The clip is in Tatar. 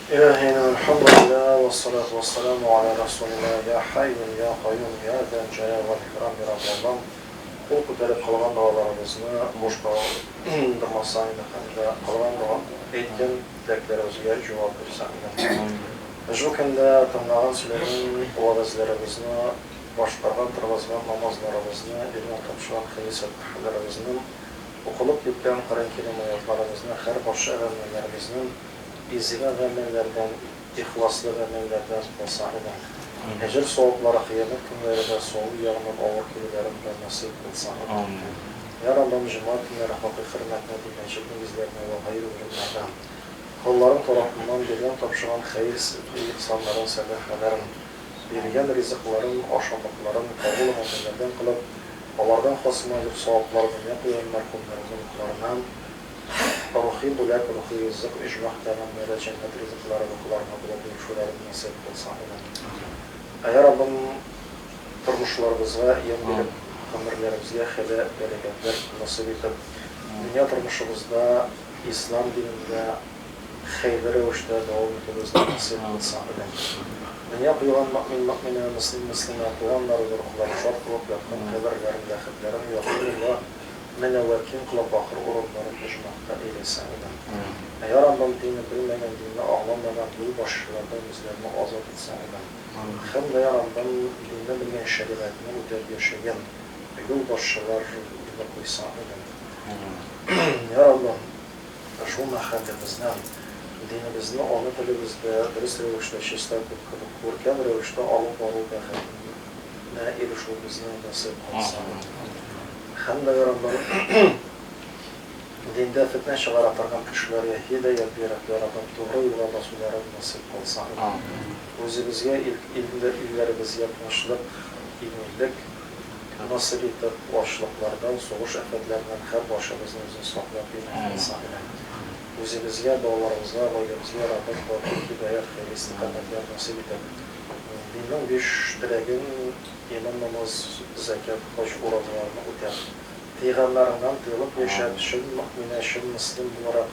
Илаһина Алхамдулиллаһ вә салату вә саламу аля Расулиллаһ Йа Хәйюн йа Каюм йа Зәл Җәлал вәл Икрам Йа Раббы Аллам кул күтәреп кылган догаларыбызны буш калдырмасаң иде һәм дә кылган дога әйткән теләкләребезгә җавап бирсәң иде Ошбу көндә тыңлаган сөйләгән вәгазьләребезне башкарган торгызган намазларыбызны биргән тапшырган хәер-сәфхәләребезнең Укылып беткән Коръән Кәрим аятларыбызны һәр барча гамәлләребезнең изге гамәлләрдән, ихласлы гамәлләрдән булса иде. Әҗер-саваплары кыямәт көннәре дә, саву ягыннан авыр килүләрен дә насыйп булса иде. Йә Раббым, җомга көннәре хакыйкый хөрмәтне бир, мәчет нигезләренә вә гайре урыннарда колларың тарафыннан биргән-тапшырган хәер-ихсаннарын, сәдакаларын, Биргән ризыкларын, ашамлыкларын кабул гамәлләрдән кылып, алардан хасына зур саваплар дөнья куйган мәрхүмнәрнең рухларыннан, рухи бүләк, рухи ризык, иҗмах пәйгамбәре, җәннәт ризыклары рухларына булып ирешүләрен насыйп кылса иде. Ә Раббым тормышларыбызга ямь биреп, гомерләребезгә хәйлә бәрәкәтләр насыйп итеп, дөнья тормышыбызда Ислам динендә, хәерле рәвештә дәвам итегез ди Хосейн бин Сагыйдә. Дөнья куйган мөэмин-мөэминә, мөслим-мөслимә, туганнар, зур-кылар, шат кылып, якын каберләрен, ләхетләрен, якыймулла, мөнәввәр, киң кылып, ахыр урыннарын оҗмахта әйләсә, амин. Ә Йа Раббым, динне белмәгән, динне аңламаган юлбашчылардан безләрне азат итсә, амин. Хәм дә, Йа Раббым, динне белгән, шәригатьне үтәп яшәгән юлбашчылар дины куйса, амин. Йа Раббым, Шул мәхәлләбезнең, динебезне ана телебездә дөрес рәвештә чиста күркәм рәвештә алып бару бәхетенә ирешүебезне насыйп кылсын. Һәм бәйрәмнең диндә фетнә чыгара торган кешеләргә һидаять биреп, яратып, тугры юлга басуларын насыйп кылсын. Үзебезгә, илләребезгә тынычлык, иминлек. Насыйп итеп, ачлыклардан, сугыш афәтләреннән һәр барчабызны үзең саклап, бирмәгән Саһирә. Үзебезгә, балаларыбызга, гаиләбезгә Раббым батыр, һидаять, хәйрый истикамәтләр насыйп итеп. Диннең биш теләген, иман, намаз, зәкят, хаҗ, уразаларны үтәп, тыйганнарыңнан тыелып яшәп, чын мөэминә, чын мөслим буларак,